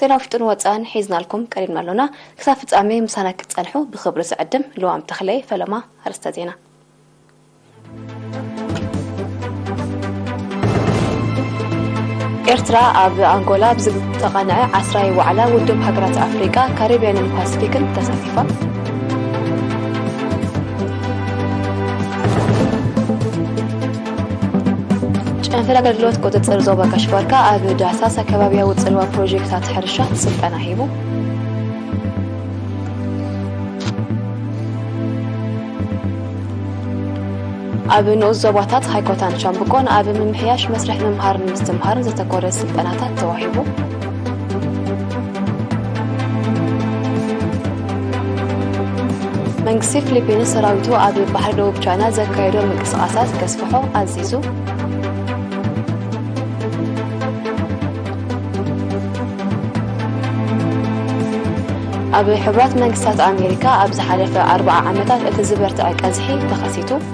ዜና ውሽጥን ወጻእን ሒዝናልኩም ቀሪብና ኣሎና። ክሳብ ፍጻሜ ምሳና ክትጸንሑ ብኽብሪ ዝዕድም ልዋም ተኽለ'የ። ፈለማ ኣርእስተ ዜና። ኤርትራ ኣብ ኣንጎላ ብዝተቓንዐ ዓስራይ ዋዕላ ውድብ ሃገራት ኣፍሪቃ ካሪብያንን ፓስፊክን ተሳቲፋ። ጨንፈር ኣገልግሎት ቁፅፅር ዞባ ጋሽባርካ ኣብ ዳህሳስ ኣከባቢያዊ ፅልዋ ፕሮጀክታት ሕርሻ ስልጠና ሂቡ ኣብ ንኡስ ዞባታት ሃይኮታን ሻምብቆን ኣብ ምምሕያሽ መስርሕ ምምሃርን ምስትምሃርን ዘተኮረ ስልጠናታት ተዋሂቡ መንግስቲ ፊሊፒንስ ሰራዊቱ ኣብ ባሕሪ ደቡብ ቻይና ዘካየዶ ምንቅስቓሳት ከስፍሖ ኣዚዙ። ኣብ ሕቡራት መንግስታት ኣሜሪካ ኣብ ዝሓለፈ ኣርብዓ ዓመታት እቲ ዝበርትዐ ቀዝሒ ተኸሲቱ።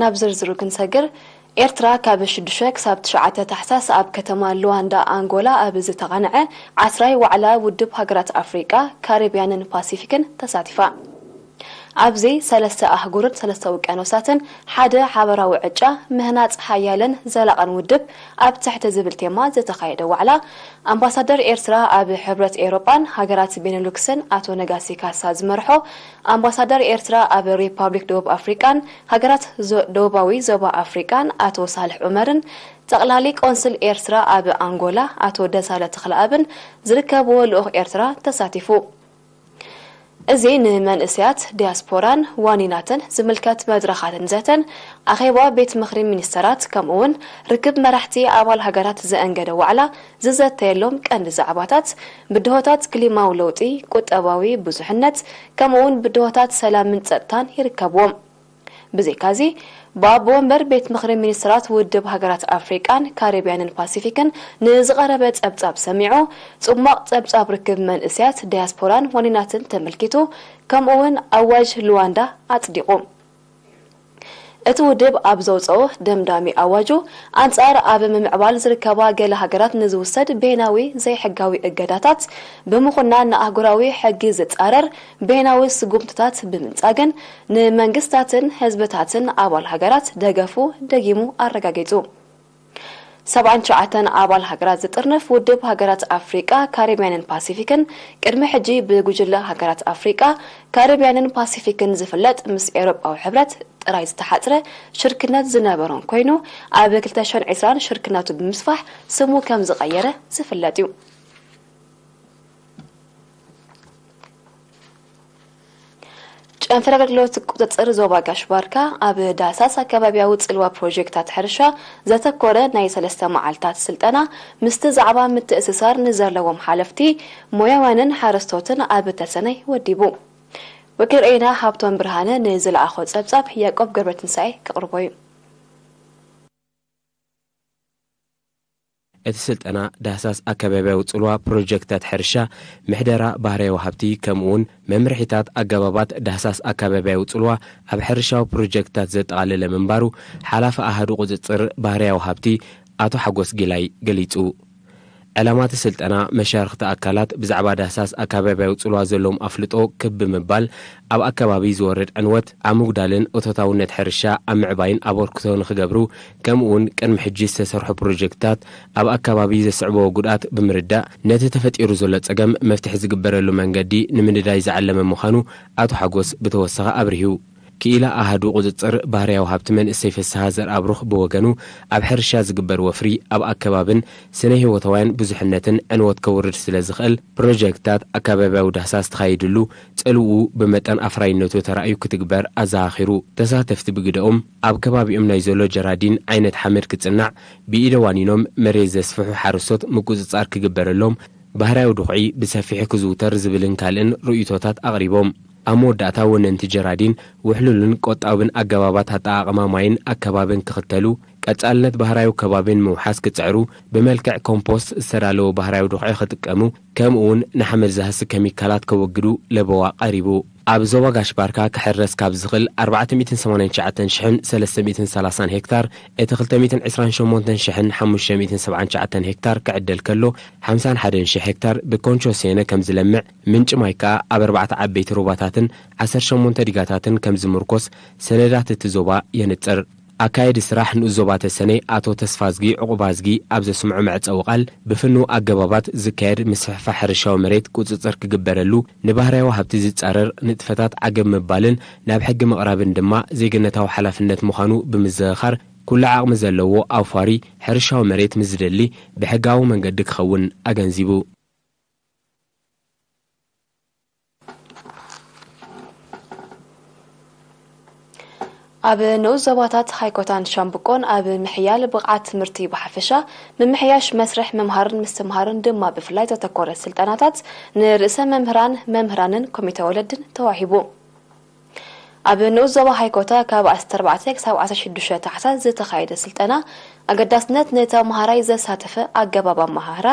ናብ ዝርዝሩ ክንሰግር፣ ኤርትራ ካብ ሽዱሽተ ክሳብ ትሽዓተ ታሕሳስ ኣብ ከተማ ሉዋንዳ ኣንጎላ ኣብ ዝተቓንዐ ዓስራይ ዋዕላ ውድብ ሃገራት ኣፍሪቃ፣ ካሪብያንን ፓሲፊክን ተሳቲፋ። ኣብዚ ሰለስተ ኣህጉርን ሰለስተ ውቅያኖሳትን ሓደ ሓበራዊ ዕጫ ምህናጽ ሓያልን ዘላቕን ውድብ ኣብ ትሕቲ ዝብል ቴማ ዝተኻየደ ዋዕላ፣ ኣምባሳደር ኤርትራ ኣብ ሕብረት ኤውሮጳን ሃገራት ቤነሉክስን ኣቶ ነጋሲ ካሳ ዝመርሖ ኣምባሳደር ኤርትራ ኣብ ሪፓብሊክ ደቡብ ኣፍሪቃን ሃገራት ደቡባዊ ዞባ ኣፍሪቃን ኣቶ ሳልሕ ዑመርን ጠቕላሊ ቆንስል ኤርትራ ኣብ ኣንጎላ ኣቶ ደሳለ ተኽለኣብን ዝርከብዎ ልኡኽ ኤርትራ ተሳቲፉ። እዚ ንመንእሰያት ዲያስፖራን ዋኒናትን ዝምልከት መድረኻትን ዘተን ኣኼባ ቤት ምኽሪ ሚኒስተራት ከምኡ'ውን ርክብ መራሕቲ ኣባል ሃገራት ዘእንገደ ዋዕላ ዝዘተየሎም ቀንዲ ዛዕባታት ብድሆታት ክሊማዊ ለውጢ፣ ቁጠባዊ ብዙሕነት፣ ከምኡ'ውን ብድሆታት ሰላምን ጸጥታን ይርከብዎም። ብዘይካ'ዚ፣ ብኣቦ ወንበር ቤት ምኽሪ ሚኒስተራት ውድብ ሃገራት ኣፍሪቃን ካሪብያንን ፓሲፊክን ንዝቐረበ ጸብጻብ ሰሚዑ፣ ጽሟቕ ጸብጻብ ርክብ መንእሰያት ዳያስፖራን ዋኒናትን ተመልኪቱ፣ ከምኡ'ውን ኣዋጅ ሉዋንዳ ኣጽዲቑ። እቲ ውድብ ኣብ ዘውጽኦ ደምዳሚ ኣዋጁ፣ ኣንጻር ኣብ ምምዕባል ዝርከባ ገለ ሃገራት ንዝውሰድ በይናዊ ዘይሕጋዊ እገዳታት ብምኹናን ንኣህጉራዊ ሕጊ ዝጻረር በይናዊ ስጉምትታት ብምንጻግን ንመንግስታትን ህዝብታትን ኣባል ሃገራት ደገፉ ደጊሙ ኣረጋጊጹ። ሰብዓን ትሽዓተን ኣባል ሃገራት ዝጥርንፍ ውድብ ሃገራት ኣፍሪቃ፣ ካሪብያንን ፓሲፊክን፣ ቅድሚ ሕጂ ብጉጅለ ሃገራት ኣፍሪቃ፣ ካሪብያንን ፓሲፊክን ዝፍለጥ ምስ ኤውሮጳዊ ሕብረት ጥራይ ዝተሓጽረ ሽርክነት ዝነበሮን ኮይኑ፣ ኣብ ክልተ ሽሕን ዕስራን ሽርክነቱ ብምስፋሕ ስሙ ከም ዝቐየረ ዝፍለጥ'ዩ። ጨንፈር ኣገልግሎት ቁፅፅር ዞባ ጋሽ ባርካ ኣብ ዳህሳስ ኣከባቢያዊ ፅልዋ ፕሮጀክታት ሕርሻ ዘተኮረ ናይ ሰለስተ መዓልታት ስልጠና ምስቲ ዛዕባ ምትእስሳር ንዘለዎም ሓለፍቲ ሞያውያንን ሓረስቶትን ኣብ ተሰነይ ወዲቡ። ወኪል ርኤና ሃብቶም ብርሃነ ንዝለኣኾ ፀብፃብ ያቆብ ገብረትንሳኤ ከቕርቦ እዩ። እቲ ስልጠና ዳህሳስ ኣከባቢያዊ ጽልዋ ፕሮጀክታት ሕርሻ፣ ምሕደራ ባህርያዊ ሃብቲ ከምኡውን መምርሒታት ኣገባባት ዳህሳስ ኣከባቢያዊ ጽልዋ ኣብ ሕርሻዊ ፕሮጀክትታት ዘጠቓለለ ምንባሩ ሓላፊ ኣሃዱ ቁጽጽር ባህርያዊ ሃብቲ ኣቶ ሓጎስ ጊላይ ገሊጹ። ዕላማ'ቲ ስልጠና መሻርኽቲ ኣካላት ብዛዕባ ዳህሳስ ኣከባቢያዊ ጽልዋ ዘለዎም ኣፍልጦ ክብ ብምባል ኣብ ኣከባቢ ዝወርድ ዕንወት ኣብ ምጉዳልን እቶታውነት ሕርሻ ኣብ ምዕባይን ኣበርክቶ ንኽገብሩ ከምኡውን ቅድሚ ሕጂ ዝተሰርሑ ፕሮጀክትታት ኣብ ኣከባቢ ዘስዕብዎ ጉድኣት ብምርዳእ ነቲ ተፈጢሩ ዘሎ ፀገም መፍትሒ ዝግበረሉ መንገዲ ንምንዳይ ዝዓለመ ምዃኑ ኣቶ ሓጎስ ብተወሳኺ ኣብሪሁ። ክኢላ ኣሃዱ ቁፅፅር ባህርያዊ ሃብቲ መንእሰይ ፍስሃ ዘርኣብሩኽ ብወገኑ ኣብ ሕርሻ ዝግበር ወፍሪ ኣብ ኣከባብን ስነ ህይወታውያን ብዙሕነትን ዕንወት ከውርድ ስለ ዝኽእል ፕሮጀክትታት ኣከባብያዊ ዳህሳስ ተኻይድሉ ፅልውኡ ብመጠን ኣፍራይነቱ ተራእዩ ክትግበር ኣዘኻኺሩ። ተሳተፍቲ ብግደኦም፣ ኣብ ከባቢኦም ናይ ዘሎ ጀራዲን ዓይነት ሓመድ ክጽናዕ፣ ብኢደ ዋኒኖም መሬት ዘስፍሑ ሓረስቶት ምቁጽጻር ክግበረሎም፣ ባህርያዊ ድኹዒ ብሰፊሑ ክዝውተር ዝብልን ካልእን ርእይቶታት ኣቕሪቦም። ኣብ መወዳእታ ወነንቲ ጀራዲን ውሕሉልን ቆጣብን ኣገባባት ኣጠቓቕማ ማይን ኣከባብን ክኽተሉ፣ ቀጻልነት ባህርያዊ ከባቢ ንምውሓስ ክጽዕሩ፣ ብመልክዕ ኮምፖስት ዝተዳለወ ባህርያዊ ድኹዒ ክጥቀሙ፣ ከምኡ'ውን ንሓመድ ዝሃሲ ከሚካላት ከወግዱ ለበዋ ቀሪቡ። ኣብ ዞባ ጋሽ ባርካ ክሕረስ ካብ ዝኽል ኣርባዕተ ሚእትን ሰማንያን ትሽዓተን ሽሕን ሰለስተ ሚእትን ሰላሳን ሄክታር እቲ ክልተ ሚእትን ዕስራን ሸሞንተን ሽሕን ሓሙሽተ ሚእትን ሰብዓን ትሽዓተን ሄክታር ክዕደል ከሎ ሓምሳን ሓደን ሽሕ ሄክታር ብኮንቾ ሴነ ከም ዝለምዕ ምንጪ ማይ ከኣ ኣብ ኣርባዕተ ዓበይቲ ሩባታትን ዓሰርተ ሸሞንተ ዲጋታትን ከም ዝምርኮስ ሰነዳት እቲ ዞባ የንጽር። ኣካየዲ ስራሕ ንኡስ ዞባ ተሰነይ ኣቶ ተስፋዝጊ ዑቕባዝጊ ኣብ ዘስምዖ መዕጸዊ ቃል፣ ብፍኑው ኣገባባት ዝካየድ ምስፍሕፋሕ ሕርሻዊ መሬት ቁጽጽር ክግበረሉ፣ ንባህርያዊ ሃብቲ ዝጻረር ንጥፈታት ዓገብ ምባልን ናብ ሕጊ ምቕራብን ድማ ዜግነታዊ ሓላፍነት ምዃኑ ብምዝኽኻር፣ ኩሉ ዓቕሚ ዘለዎ ኣውፋሪ ሕርሻዊ መሬት ምስ ዝደሊ ብሕጋዊ መንገዲ ክኸውን ኣገንዚቡ። ኣብ ንኡስ ዞባታት ሃይኮታን ሻምብቆን ኣብ ምሕያል ብቕዓት ትምህርቲ ብሓፈሻ ምምሕያሽ መስርሕ ምምሃርን ምስትምሃርን ድማ ብፍላይ ዘተኮረ ስልጠናታት ንርእሰ መምህራን መምህራንን ኮሚተ ወለድን ተዋሂቡ ኣብ ንኡስ ዞባ ሃይኮታ ካብ ዓሰርተ ኣርባዕተ ክሳብ ዓሰርተ ሽዱሽተ ታሕሳስ ዝተኻየደ ስልጠና ኣገዳስነት ንተምሃራይ ዘሳተፈ ኣገባብ ኣመሃህራ፣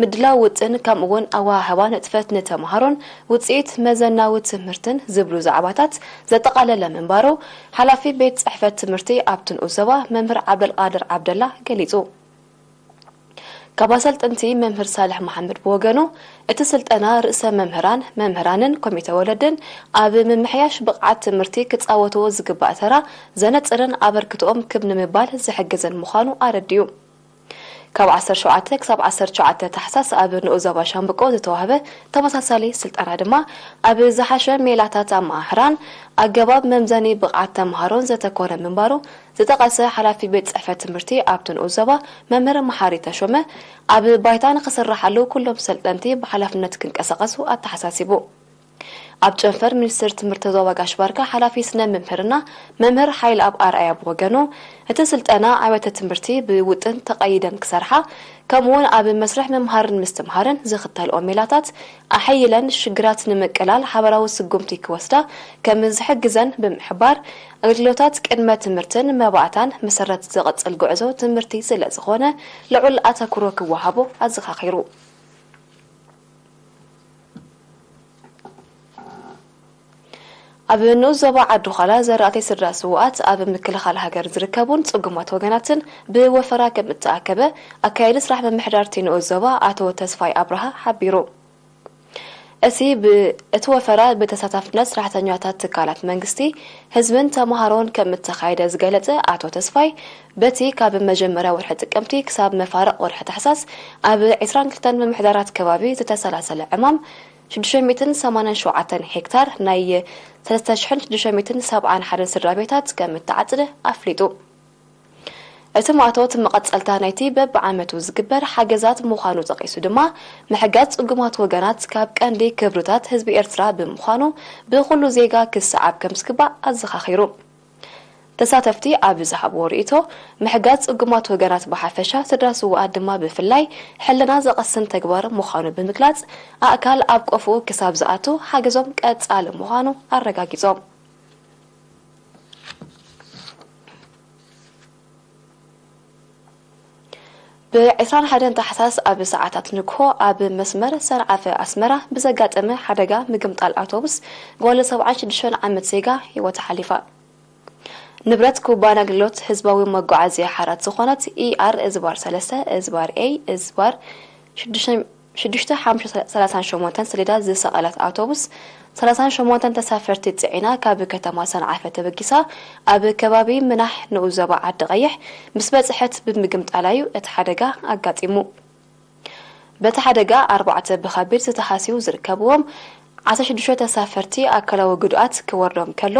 ምድላው ውጥን ከምኡ እውን ኣወሃህባ ንጥፈት ንተምሃሮን ውፅኢት መዘናዊ ትምህርትን ዝብሉ ዛዕባታት ዘጠቓለለ ምንባሩ ሓላፊ ቤት ፅሕፈት ትምህርቲ ኣብቲ ንኡስ ዞባ መምህር ዓብደልቓድር ዓብደላ ገሊፁ። ካብ ኣሰልጠንቲ መምህር ሳልሕ መሓመድ ብወገኑ፣ እቲ ስልጠና ርእሰ መምህራን፣ መምህራንን ኮሚተ ወለድን ኣብ ምምሕያሽ ብቕዓት ትምህርቲ ክጻወትዎ ዝግባእ ተራ ዘነጽርን ኣበርክትኦም ክብ ንምባል ዝሕግዝን ምዃኑ ኣረዲኡ። ካብ ዓሰርተ ሸውዓተ ክሳብ ዓሰርተ ትሽዓተ ታሕሳስ ኣብ ንኡስ ዞባ ሻምብቆ ዝተዋህበ ተመሳሳሊ ስልጠና ድማ ኣብ ዝሓሸ ሜላታት ኣመሃህራን ኣገባብ መምዘኒ ብቕዓት ተመሃሮን ዘተኮረ ምንባሩ ዝጠቐሰ ሓላፊ ቤት ፅሕፈት ትምህርቲ ኣብቲ ንኡስ ዞባ መምህር መሓሪ ተሾመ፣ ኣብ ባይታ ንክስረሓሉ ኩሎም ሰልጠንቲ ብሓላፍነት ክንቀሳቐሱ ኣተሓሳሲቡ። ኣብ ጨንፈር ሚኒስትር ትምህርቲ ዞባ ጋሽ ባርካ ሓላፊ ስነ ምምህርና መምህር ሓይልኣብ ኣርኣያ ብወገኑ፣ እቲ ስልጠና ኣብያተ ትምህርቲ ብውጥን ተቐይደን ክሰርሓ ከምኡ እውን ኣብ መስርሕ ምምሃርን ምስትምሃርን ዝኽተልኦ ሜላታት ኣሐይለን ሽግራት ንምቅላል ሓበራዊ ስጉምቲ ክወስዳ ከምዝሕግዘን ብምሕባር፣ ኣገልግሎታት ቅድመ ትምህርትን መባእታን መሰረት ዝቕጽል ጉዕዞ ትምህርቲ ስለዝኾነ ልዑል ኣተኩሮ ክወሃቦ ኣዘኻኺሩ። ኣብ ንኡስ ዞባ ዓዲ-ዃላ ዘራእቲ ስድራ ስዉኣት ኣብ ምክልኻል ሃገር ዝርከቡን ጽጉማት ወገናትን ብወፈራ ከምእተኣከበ ኣካያዲ ስራሕ ምምሕዳር'ቲ ንኡስ ዞባ ኣቶ ተስፋይ ኣብርሃ ሓቢሩ። እቲ ብ እቲ ወፈራ ብተሳታፍነት ስራሕተኛታት ትካላት መንግስቲ፣ ህዝብን ተምሃሮን ከም እተኻየደ ዝገለፀ ኣቶ ተስፋይ፣ በቲ ካብ መጀመርያ ወርሒ ጥቅምቲ ክሳብ መፋርቕ ወርሒ ታሕሳስ ኣብ ዕስራን ክልተን ምምሕዳራት ከባቢ ዝተሰላሰለ ዕማም ሽዱሽተ ሚእትን ሰማንያን ሸውዓተን ሄክታር ናይ ሰለስተ ሽሕን ሽዱሽተ ሚእትን ሰብዓን ሓደን ስድራቤታት ከም እተዓፅደ ኣፍሊጡ። እቲ ማእቶት መቐጸልታ ናይቲ በብዓመቱ ዝግበር ሓገዛት ምዃኑ ጠቒሱ ድማ፣ ምሕጋዝ ጽጉማት ወገናት ካብ ቀንዲ ክብርታት ህዝቢ ኤርትራ ብምዃኑ ብኹሉ ዜጋ ክሰዓብ ከምዝግባእ ኣዘኻኺሩ። ተሳተፍቲ ኣብ ዝሃብዎ ርእይቶ፣ ምሕጋዝ ጽጉማት ወገናት ብሓፈሻ ስድራ ስዉኣት ድማ ብፍላይ ሕልና ዘቐስን ተግባር ምዃኑ ብምግላጽ፣ ኣእካል ኣብ ቆፎኡ ክሳብ ዝኣቱ ሓገዞም ቀጻሊ ምዃኑ ኣረጋጊጾም። ብ ዕስራን ሓደን ታሕሳስ ኣብ ሰዓታት ንግሆ ኣብ መስመር ሰንዓፈ ኣስመራ ብዘጋጠመ ሓደጋ ምግምጣል ኣውቶቡስ ጓል ሰብዓን ሽዱሽተን ዓመት ዜጋ ህይወታ ሓሊፋ። ንብረት ኩባንያ ኣገልግሎት ህዝባዊ መጓዓዝያ ሓራት ዝኾነት ኢኣር-ሰለስተ-ኤ-ሽዱሽተ፣ ሽዱሽተ ሓሙሽተ ሰላሳን ሸሞንተን ሰሌዳ ዝሰቐለት ኣውቶቡስ ሰላሳን ሸሞንተን ተሳፈርቲ ጽዒና ካብ ከተማ ሰንዓፈ ተበጊሳ ኣብ ከባቢ ምናሕ ንኡስ ዞባ ዓዲ ቐይሕ ምስ በጽሐት ብምግምጣላ'ዩ እቲ ሓደጋ ኣጋጢሙ። በቲ ሓደጋ ኣርባዕተ ብኸቢድ ዝተሃስዩ ዝርከብዎም፣ ዓሰርተ ሽዱሽተ ተሳፈርቲ ኣካላዊ ግድኣት ክወርዶም ከሎ፣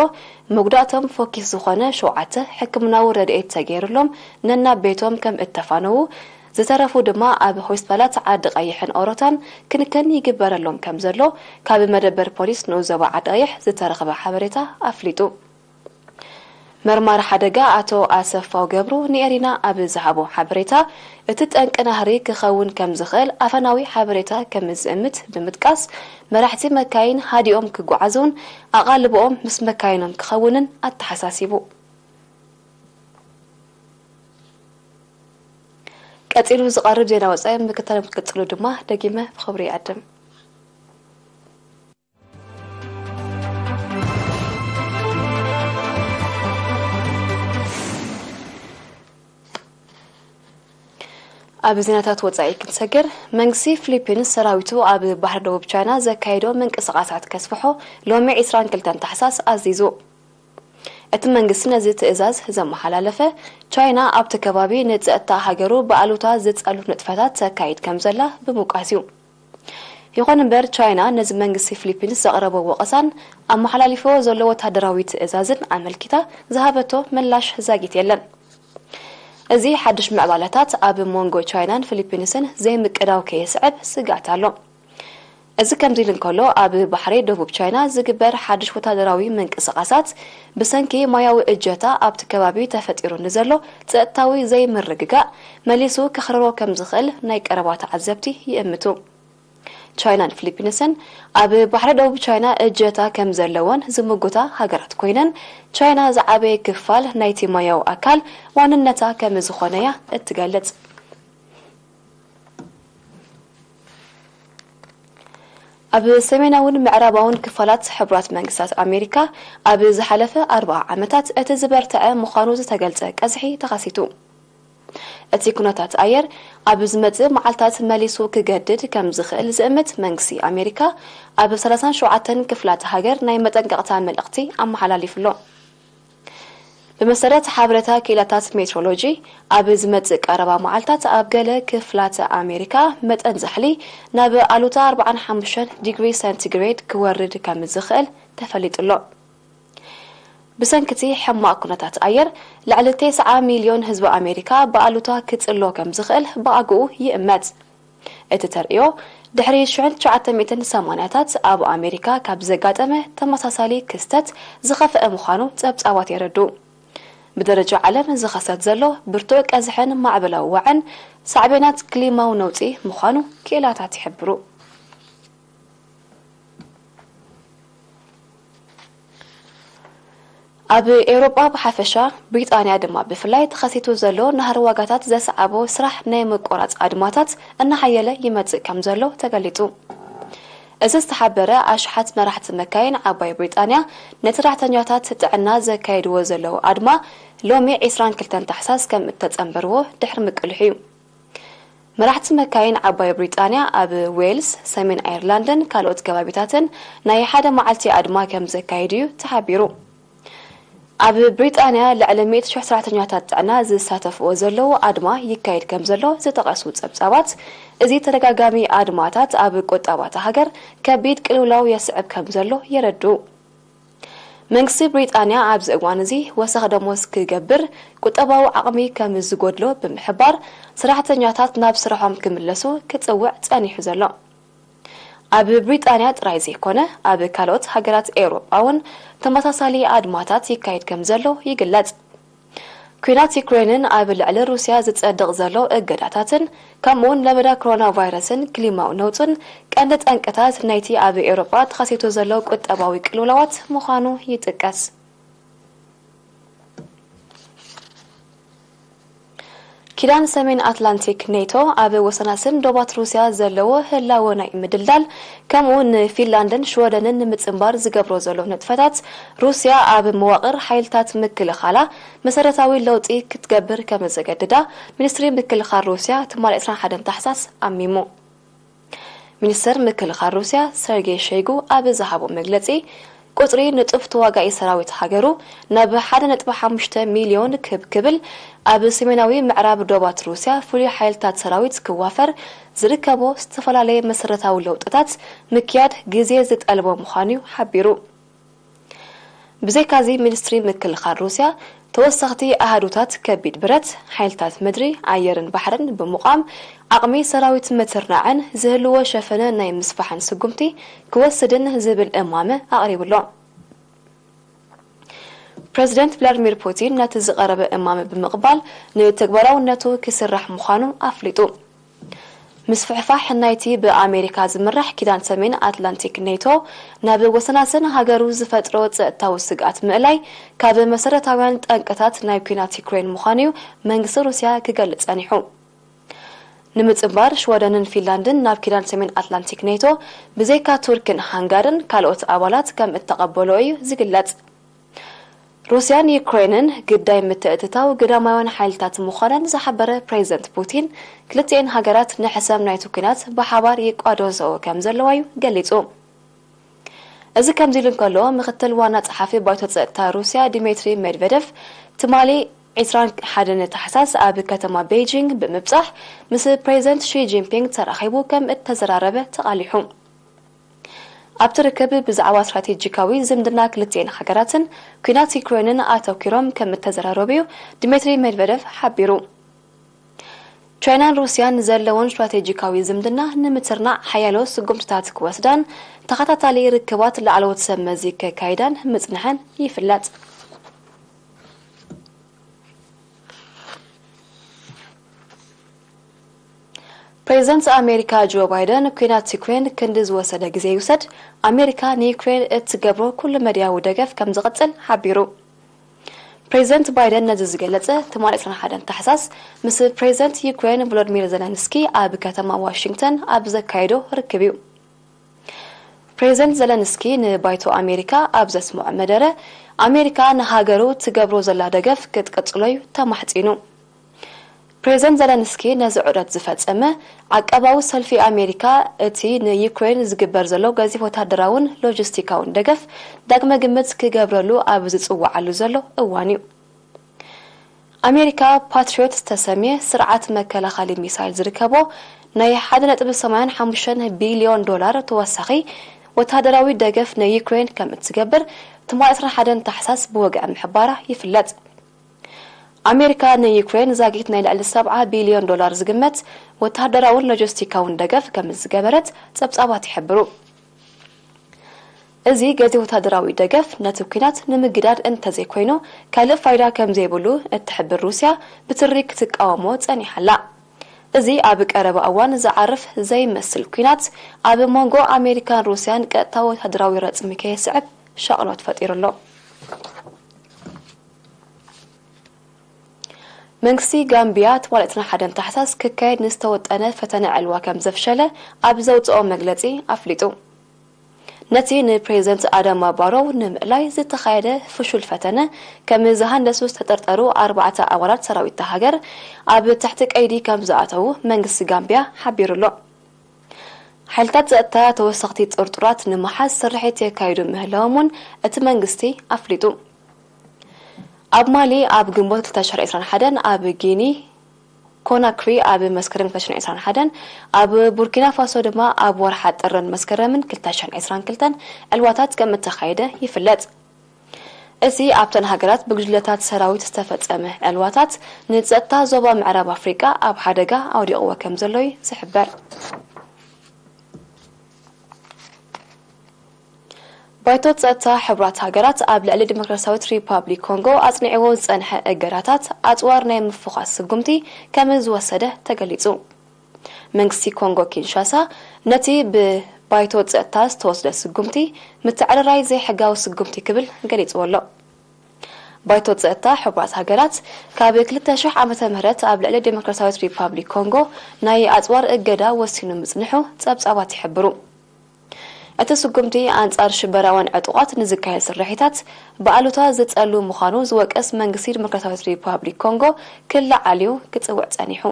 መጉዳእቶም ፎኪስ ዝኾነ ሸውዓተ ሕክምናዊ ረድኤት ተገይሩሎም ነናብ ቤቶም ከም እተፋነዉ፣ ዝተረፉ ድማ ኣብ ሆስፒታላት ዓዲ ቐይሕን ኦሮታን ክንክን ይግበረሎም ከም ዘሎ ካብ መደበር ፖሊስ ንኡስ ዞባ ዓዲ ቐይሕ ዝተረኽበ ሓበሬታ ኣፍሊጡ። መርማሪ ሓደጋ ኣቶ ኣሰፋው ገብሩ ንኤሪና ኣብ ዝሃቦ ሓበሬታ፣ እቲ ጠንቂ ናህሪ ክኸውን ከም ዝኽእል ኣፈናዊ ሓበሬታ ከም ዝእምት ብምጥቃስ፣ መራሕቲ መካይን ሃዲኦም ክጓዓዙን ኣቓልቦኦም ምስ መካይኖም ክኸውንን ኣተሓሳሲቡ። ቀጺሉ ዝቐርብ ዜና ወጻኢ ምክትታሎም ክትቅጽሉ ድማ ደጊመ ብኽብሪ ይዕድም። ኣብ ዜናታት ወፃኢ ክንሰግር መንግስቲ ፊሊፒንስ ሰራዊቱ ኣብ ባሕሪ ደቡብ ቻይና ዘካየዶ ምንቅስቓሳት ከስፍሖ ሎሚ 22 ታሕሳስ ኣዚዙ እቲ መንግስቲ ነዚ ትእዛዝ ዘመሓላለፈ ቻይና ኣብቲ ከባቢ ንፀጥታ ሃገሩ ብኣሉታ ዝፀሉ ንጥፈታት ተካይድ ከም ዘላ ብምውቃስ እዩ ይኹን እምበር ቻይና ነዚ መንግስቲ ፍሊፒንስ ዘቕረቦ ወቐሳን ኣመሓላሊፍዎ ዘሎ ወተሃደራዊ ትእዛዝን ኣመልኪታ ዝሃበቶ ምላሽ ዛጊት የለን። እዚ ሓድሽ ምዕባለታት ኣብ ሞንጎ ቻይናን ፍሊፒንስን ዘይምቅዳው ከየስዕብ ስግኣት ኣሎ። እዚ ከምዚ ኢሉ እንከሎ ኣብ ባሕሪ ደቡብ ቻይና ዝግበር ሓድሽ ወተሃደራዊ ምንቅስቓሳት፣ ብሰንኪ ሞያዊ እጀታ ኣብቲ ከባቢ ተፈጢሩ ንዘሎ ጸጥታዊ ዘይምርግጋእ መሊሱ ከኽርሮ ከምዝኽእል ናይ ቀረባ ተዓዘብቲ ይእምቱ። ቻይናን ፍሊፒንስን ኣብ ባሕሪ ደቡብ ቻይና እጀታ ከምዘለወን ዝምጉታ ሃገራት ኮይነን፣ ቻይና ዝዓበየ ክፋል ናይቲ ሞያዊ ኣካል ዋንነታ ከምዝኾነ'ያ እትገልጽ። ኣብ ሰሜናውን ምዕራባውን ክፋላት ሕቡራት መንግስታት ኣሜሪካ ኣብ ዝሓለፈ ኣርብዓ ዓመታት እቲ ዝበርተዐ ምዃኑ ዝተገልጸ ቀዝሒ ተኸሲቱ። እቲ ኩነታት ኣየር ኣብ ዝመጽእ መዓልታት መሊሱ ክገድድ ከም ዝኽእል ዝእምት መንግስቲ ኣሜሪካ ኣብ ሰላሳን ሸውዓተን ክፍላት ሃገር ናይ መጠንቀቕታ መልእኽቲ ኣመሓላሊፉ'ሎ። ብመሰረት ሓበሬታ ክኢላታት ሜትሮሎጂ፣ ኣብ ዝመጽእ ቀረባ መዓልታት ኣብ ገለ ክፍላተ ኣሜሪካ መጠን ዛሕሊ ናብ ኣሉታ ኣርብዓን ሓሙሽተን ዲግሪ ሰንቲግሬድ ክወርድ ከምዝኽእል ተፈሊጡ'ሎ። ብሰንኪ'ቲ ሕማቕ ኩነታት ኣየር፣ ልዕሊ ቴስዓ ሚልዮን ህዝቢ ኣሜሪካ ብኣሉታ ክጽሎ ከምዝኽእል ብኣግኡ ይእመት። እቲ ተርእዮ ድሕሪ ሽሕ ትሽዓተ ሚእትን ሰማንያታት ኣብ ኣሜሪካ ካብ ዘጋጠመ ተመሳሳሊ ክስተት ዝኸፈኣ ምዃኑ ጸብጻባት የረድኡ። ብደረጃ ዓለም ዝኸሰት ዘሎ ብርቱዕ ቀዝሕን ማዕበላዊ ዋዕን ሳዕቤናት ክሊማዊ ነውጺ ምዃኑ ክኢላታት ይሕብሩ። ኣብ ኤውሮጳ ብሓፈሻ፣ ብሪጣንያ ድማ ብፍላይ ተኸሲቱ ዘሎ ናህሪ ዋጋታት ዘስዓቦ ስራሕ ናይ ምቁራጽ ኣድማታት እናሓየለ ይመጽእ ከምዘሎ ተገሊጹ። እዚ ዝተሓበረ፣ ኣሽሓት መራሕቲ መካይን ዓባይ ብሪጣንያ ንሰራሕተኛታት ጥዕና ዘካይድዎ ዘለዉ ኣድማ ሎሚ ዕስራን ክልተን ታሕሳስ ከም እተጸንበርዎ ድሕሪ ምቅልሑ'ዩ። መራሕቲ መካይን ዓባይ ብሪጣንያ ኣብ ዌልስ፣ ሰሜን ኣየርላንድን ካልኦት ከባቢታትን ናይ ሓደ መዓልቲ ኣድማ ከም ዘካይዱ'ዩ ተሓቢሩ። ኣብ ብሪጣንያ ልዕሊ ሚእቲ ሽሕ ሰራሕተኛታት ጥዕና ዝሳተፍዎ ዘለዉ ኣድማ ይካየድ ከም ዘሎ ዝጠቐሱ ጸብጻባት፣ እዚ ተደጋጋሚ ኣድማታት ኣብ ቁጠባ'ታ ሃገር ከቢድ ቅልውላው የስዕብ ከም ዘሎ የረድኡ። መንግስቲ ብሪጣንያ ኣብዚ እዋን እዚ ወሰኽ ደሞዝ ክገብር ቁጠባዊ ዓቕሚ ከም ዝጎድሎ ብምሕባር ሰራሕተኛታት ናብ ስርሖም ክምለሱ ክጽውዕ ጸኒሑ ዘሎ ኣብ ብሪጣንያ ጥራይ ዘይኮነ ኣብ ካልኦት ሃገራት ኤውሮጳ'ውን ተመሳሳሊ ኣድማታት ይካየድ ከም ዘሎ ይግለጽ። ኲናት ዩክረይንን ኣብ ልዕሊ ሩስያ ዝጸድቕ ዘሎ እገዳታትን ከምኡ'ውን ለበዳ ኮሮናቫይረስን ክሊማዊ ነውጽን ቀንዲ ጠንቅታት ናይቲ ኣብ ኤውሮጳ ተኸሲቱ ዘሎ ቁጠባዊ ቅልውላዋት ምዃኑ ይጥቀስ። ኪዳን ሰሜን ኣትላንቲክ፣ ኔቶ፣ ኣብ ወሰናስን ዶባት ሩስያ ዘለዎ ህላወ ናይ ምድልዳል ከምኡ ንፊንላንድን ሽወደንን ንምጽንባር ዝገብሮ ዘሎ ንጥፈታት፣ ሩስያ ኣብ መዋቕር ሓይልታት ምክልኻላ መሰረታዊ ለውጢ ክትገብር ከምዘገድዳ ሚኒስትሪ ምክልኻል ሩስያ ትማል ዕስራን ሓደን ታሕሳስ ኣሚሙ። ሚኒስተር ምክልኻል ሩስያ ሰርጌ ሸይጉ ኣብ ዝሃቦ መግለጺ፣ ቁጽሪ ንጡፍ ተዋጋኢ ሰራዊት ሃገሩ ናብ ሓደ ነጥቢ ሓሙሽተ ሚልዮን ክብ ክብል፣ ኣብ ሰሜናዊ ምዕራብ ዶባት ሩስያ ፍሉይ ሓይልታት ሰራዊት ክዋፈር ዝርከቦ ዝተፈላለየ መሰረታዊ ለውጥታት ምክያድ ግዜ ዝጠልቦ ምዃኑ'ዩ ሓቢሩ። ብዘይካዚ ሚኒስትሪ ምክልኻል ሩስያ፣ ተወሰኽቲ ኣሃዱታት ከቢድ ብረት፣ ሓይልታት ምድሪ፣ ኣየርን ባሕርን ብምቛም ዓቕሚ ሰራዊት ምትርናዕን ዝህልዎ ሸፈነ ናይ ምስፋሕን ስጉምቲ ክወስድን ዝብል እማመ ኣቕሪቡ ኣሎ። ፕረዚደንት ቭላድሚር ፑቲን ነቲ ዝቐረበ እማመ ብምቕባል ንተግባራውነቱ ክስራሕ ምዃኑ ኣፍሊጡ። ምስፍሕፋሕ ናይቲ ብኣሜሪካ ዝምራሕ ኪዳን ሰሜን ኣትላንቲክ፣ ኔቶ፣ ናብ ወሰናስን ሃገሩ ዝፈጥሮ ጸጥታዊ ስግኣት ምእላይ፣ ካብ መሰረታውያን ጠንቅታት ናይ ኲናት ዩክረይን ምዃኑ'ዩ መንግስቲ ሩስያ ክገልጽ ጸኒሑ። ንምጽንባር ሽወደንን ፊንላንድን ናብ ኪዳን ሰሜን ኣትላንቲክ፣ ኔቶ፣ ብዘይካ ቱርክን ሃንጋርን ካልኦት ኣባላት ከም እተቐበልኦ እዩ ዝግለጽ። ሩስያን ዩክረይንን ግዳይ ምትእትታው ግዳማውያን ሓይልታት ምዃነን ዝሓበረ ፕሬዝደንት ፑቲን፣ ክልቲኤን ሃገራት ንሕሰም ናይቲ ኲናት ብሓባር ይቋደንሰኦ ከምዘለዋ'ዩ ገሊጹ። እዚ ከምዚሉ እንከሎ፣ ምክትል ዋና ጸሓፊ ባይቶ ጸጥታ ሩስያ ዲሜትሪ ሜድቨደቭ ትማሊ ዕስራን ሓደን ታሕሳስ ኣብ ከተማ ቤይጂንግ ብምብጻሕ ምስ ፕሬዝደንት ሺ ጂንፒንግ ተራኺቡ ከምእተዘራረበ ተቓሊሑ። ኣብቲ ርክብ ብዛዕባ ስትራቴጂካዊ ዝምድና ክልቲኤን ሃገራትን ኲናት ዩክረይንን ኣተኲሮም ከም እተዘራረቡ'ዩ ድሜትሪ ሜድቨደቭ ሓቢሩ። ቻይናን ሩስያን ዘለወን ስትራቴጂካዊ ዝምድና ንምትርናዕ ሓያሎ ስጉምትታት ክወስዳን ተኸታታሊ ርክባት ላዕለዎት ሰብ መዚ ከካይዳን ምጽንሐን ይፍለጥ። ፕሬዝደንት ኣሜሪካ ጆ ባይደን ኲናት ዩክሬን ክንዲ ዝወሰደ ግዜ ይውሰድ ኣሜሪካ ንዩክሬን እትገብሮ ኩሉመድያዊ ደገፍ ከምዝቕጽል ሓቢሩ። ፕሬዝደንት ባይደን ነዚ ዝገለጸ ትማሊ ዕስራን ሓደን ታሕሳስ ምስ ፕሬዝደንት ዩክሬን ቮሎድሚር ዘለንስኪ ኣብ ከተማ ዋሽንግተን ኣብ ዘካየዶ ርክብ እዩ። ፕሬዝደንት ዘለንስኪ ንባይቶ ኣሜሪካ ኣብ ዘስምዖ መደረ ኣሜሪካ ንሃገሩ ትገብሮ ዘላ ደገፍ ክትቅጽሎ'ዩ ተማሕጺኑ። ፕሬዝደንት ዘለንስኪ ነዚ ዑደት ዝፈጸመ፣ ዓቃባዊ ሰልፊ ኣሜሪካ እቲ ንዩክረይን ዝግበር ዘሎ ገዚፍ ወተሃደራውን ሎጂስቲካውን ደገፍ ዳግመ ግምት ክገብረሉ ኣብ ዝጽውዓሉ ዘሎ እዋን'ዩ። ኣሜሪካ ፓትሪዮት ዝተሰምየ ስርዓት መከላኸሊ ሚሳይል ዝርከቦ ናይ ሓደ ነጥቢ ሰማንያን ሓሙሽተን ቢልዮን ዶላር ተወሳኺ ወተሃደራዊ ደገፍ ንዩክረይን ከምእትገብር ትማሊ ዕስራን ሓደን ታሕሳስ ብወግዒ ምሕባራ ይፍለጥ። ኣሜሪካ ንዩክሬን ዛጊት ናይ ልዕሊ ሰብዓ ቢልዮን ዶላር ዝግመት ወተሃደራውን ሎጀስቲካውን ደገፍ ከምዝገበረት ጸብጻባት ይሕብሩ። እዚ ገዚፍ ወተሃደራዊ ደገፍ ነቲ ኲናት ንምግዳድ እንተዘይኮይኑ ካልእ ፋይዳ ከምዘይብሉ እትሕብር ሩስያ ብትሪ ክትቃወሞ ጸኒሓ ኣላ። እዚ ኣብ ቀረባ እዋን ዝዓርፍ ዘይመስል ኲናት ኣብ ሞንጎ ኣሜሪካን ሩስያን ቀጥታዊ ወተሃደራዊ ረጽሚ ከየስዕብ ሻቕሎት ፈጢሩ ኣሎ። መንግስቲ ጋምቢያ ትማሊ ዕስራን ሓደን ታሕሳስ ክካየድ ንዝተወጠነ ፈተነ ዕልዋ ከምዘፍሸለ ኣብ ዘውጽኦ መግለጺ ኣፍሊጡ። ነቲ ንፕሬዝደንት ኣዳማ ባሮው ንምእላይ ዝተኻየደ ፍሹል ፈተነ ከምዝሃንደሱ ዝተጠርጠሩ ኣርባዕተ ኣባላት ሰራዊት'ታ ሃገር ኣብ ትሕቲ ቀይዲ ከምዝኣተዉ መንግስቲ ጋምቢያ ሓቢሩ'ሎ። ሓይልታት ጸጥታ ተወሰኽቲ ጥርጡራት ንምሓዝ ስርሒት የካይዱ ምህላዎም'ውን እቲ መንግስቲ ኣፍሊጡ። ኣብ ማሊ ኣብ ግንቦት ክልተ ሽሕን ዕስራን ሓደን፣ ኣብ ጊኒ ኮናክሪ ኣብ መስከረም ክልተ ሽሕን ዕስራን ሓደን፣ ኣብ ቡርኪናፋሶ ድማ ኣብ ወርሓ ጥርን መስከረምን ክልተ ሽሕን ዕስራን ክልተን ዕልዋታት ከምእተኻየደ ይፍለጥ። እዚ ኣብተን ሃገራት ብጉጅለታት ሰራዊት ዝተፈጸመ ዕልዋታት ንጸጥታ ዞባ ምዕራብ ኣፍሪቃ ኣብ ሓደጋ ኣውዲቕዎ ከምዘሎ'ዩ ዝሕበር። ባይቶ ጸጥታ ሕቡራት ሃገራት ኣብ ልዕሊ ዲሞክራስያዊት ሪፓብሊክ ኮንጎ ኣጽኒዕዎ ዝጸንሐ እገዳታት ኣጽዋር ናይ ምፍዃስ ስጉምቲ ከም ዝወሰደ ተገሊጹ። መንግስቲ ኮንጎ ኪንሻሳ ነቲ ብ ባይቶ ጸጥታ ዝተወስደ ስጉምቲ ምትዕርራይ ዘይሕጋዊ ስጉምቲ ክብል ገሊጽዎ ኣሎ። ባይቶ ጸጥታ ሕቡራት ሃገራት ካብ ክልተ ሽሕ ዓመተ ምህረት ኣብ ልዕሊ ዲሞክራስያዊት ሪፓብሊክ ኮንጎ ናይ ኣጽዋር እገዳ ወሲኑ ምጽንሑ ጸብጻባት ይሕብሩ። እቲ ስጉምቲ ኣንጻር ሽበራውያን ዕጡቓት ንዝካየድ ስርሒታት ብኣሉታ ዝጸሉ ምዃኑ ዝወቀስ መንግስቲ ዲሞክራሲያዊት ሪፓብሊክ ኮንጎ ክለዓል እዩ ክጽውዕ ጸኒሑ።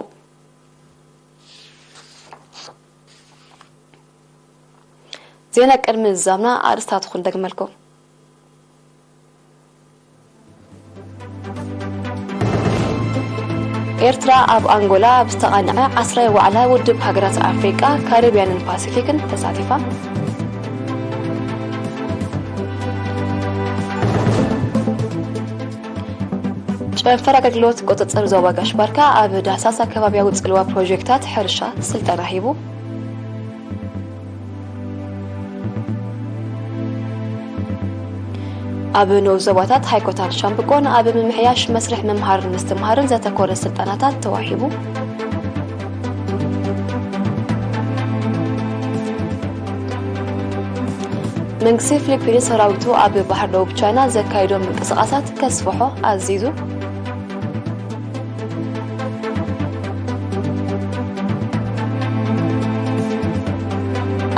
ዜና ቅድሚ ምዝዛምና ኣርእስታቱ ክንደግመልኩም። ኤርትራ ኣብ ኣንጎላ ኣብ ዝተቓንዐ ዓስራይ ዋዕላ ውድብ ሃገራት ኣፍሪቃ ካሪብያንን ፓሲፊክን ተሳቲፋ ጨንፈር ኣገልግሎት ቁፅፅር ዞባ ጋሽ ባርካ ኣብ ዳህሳስ ኣከባቢያዊ ፅልዋ ፕሮጀክታት ሕርሻ ስልጠና ሂቡ ኣብ ንኡስ ዞባታት ሃይኮታን ሻምብቆን ኣብ ምምሕያሽ መስርሕ ምምሃርን ምስትምሃርን ዘተኮረ ስልጠናታት ተዋሂቡ። መንግስቲ ፊሊፒንስ ሰራዊቱ ኣብ ባህር ደቡብ ቻይና ዘካይዶ ምንቅስቓሳት ከስፍሖ ኣዚዙ።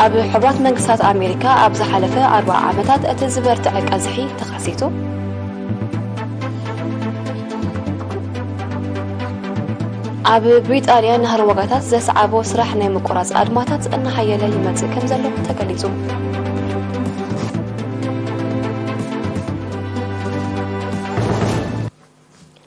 ኣብ ሕቡራት መንግስታት ኣሜሪካ ኣብ ዝሓለፈ ኣርባ ዓመታት እቲ ዝበርትዐ ቀዝሒ ተኸሲቱ ኣብ ብሪጣንያ ናህሪ ዋጋታት ዘስዓቦ ስራሕ ናይ ምቁራፅ ኣድማታት እናሓየለ ይመፅእ ከም ዘሎ ተገሊፁ